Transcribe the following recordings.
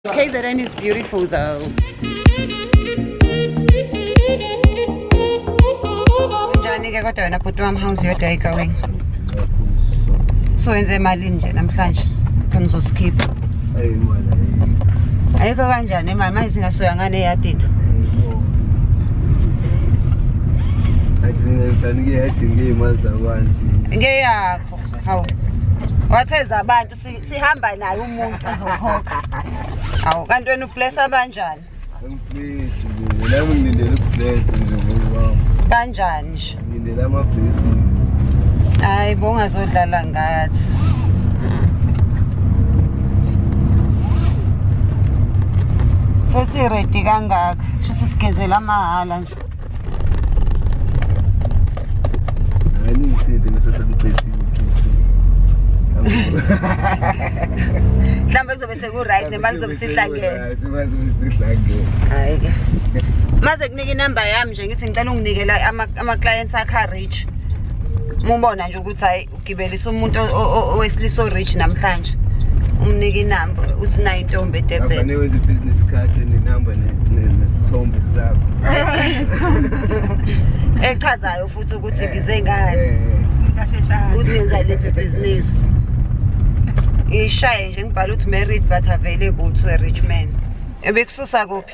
KZN is beautiful though. Njani ke kodwa wena bhuti wami how's your day going? So wenze imali nje namhlanje khona uzosikhipha. Ayi mwana. Ayikho kanjani imali manje singasoya ngane eyadini. Ngeyakho. Hawu. Watheza abantu sihamba naye umuntu ozokhokha awu kanti wena ubless abanjani kanjani nje hayi bongazodlala ngathi sesiredi kangaka shuthi sigezela amahhala nje mhlawumbe kuzobe seku-right nemali zobe sihlangene hayi ke maze kunika inamba yami nje ngithi ngicela unginikela ama-clients akha-rich mubona nje ukuthi hhayi ugibelisa umuntu owesilisa orich namhlanje umnike inamba uthi nayo intombi edebheni wenza ibhizinisi khadi nenamba nesithombe sakho echazayo futhi ukuthi eh, ngize ngani eh. uthi ngenza lephi ibhizinisi ngishaye nje ngibhala ukuthi married but available to a rich man ebekususa kuphi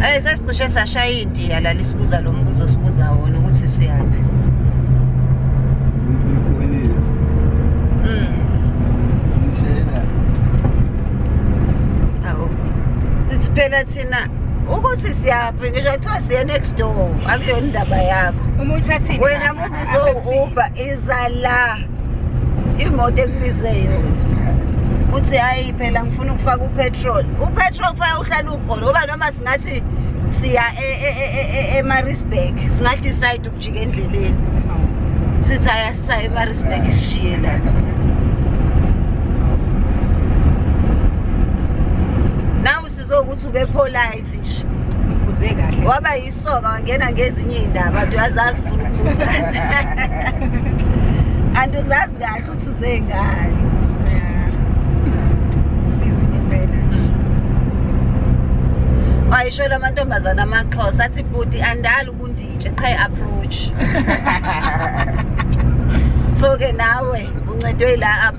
Hey sesicishe sashaya indiya la lisibuza lo mbuzo sibuza wona ukuthi siyaphi. Mm. Awu. Sithi phela thina ukuthi siyaphi ngisho kuthiwa siye next door akuyona indaba yakho. Uma uthathini. Wena mubizo Uber iza la. Imoto ekubize yona. Uthi hayi phela ngifuna ukufaka upetrol upetrol kufanele uhlale ukhona ngoba noma singathi siya emarisburg e, e, e, singadecide ukujika endleleni sithi ayasisa emarisburg isishiye la zokuthi ube polite nje uze kahle waba yisoka wangena ngezinye iy'ndaba nje wazazi ufuna ukubuza and uzazi kahle ukuthi uze ngani ayishwela amantombazana amaxhosa athi bhuti andali ubunditshe qha i-approach so-ke nawe uncedwe ila-up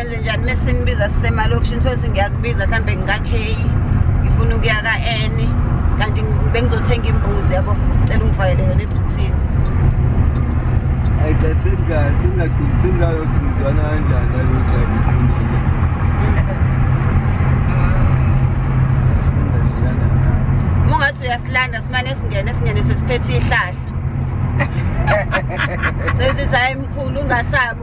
Enze njani uma sinibiza sisemalokishini sothi ngiyakubiza mhlawumbe ngika-k ngifuna ukuya ka-n kanti bengizothenga imbuzi yabo cela ungifakele yona ebhuthini ayicathini kahle singaqinisini ngayo ukuthi ngizwana kanjani nalo drive iqinile singashiyana nayo ungathi uyasilanda simane singene singene sesiphethe ihlahla sesithi hayi mkhulu ungasabi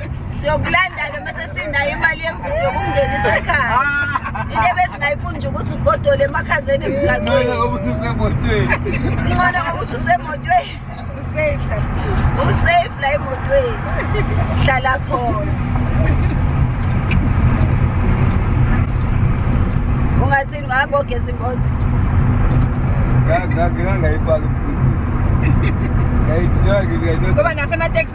siyokulanda-ke mase sinayo imali yembuzi yokungenisa ekhaya into ebesingayifuni nje ukuthi ugodole emakhazeni emgaqweni ngoba ususemotweni usafe la emotweni hlala khona ungathini ngabo ogeza imoto ngangayipaki mkhulu ngoba nasemateksi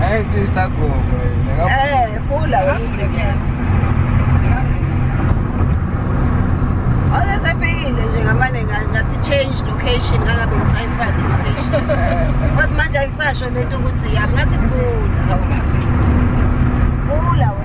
Ay, sí, está como, güey. Eh, pula, güey. Oze sephekile nje ngamane ngathi change location angabe ngisayifaki location. Wathi manje ayisasho lento ukuthi yami ngathi pula. Pula wena.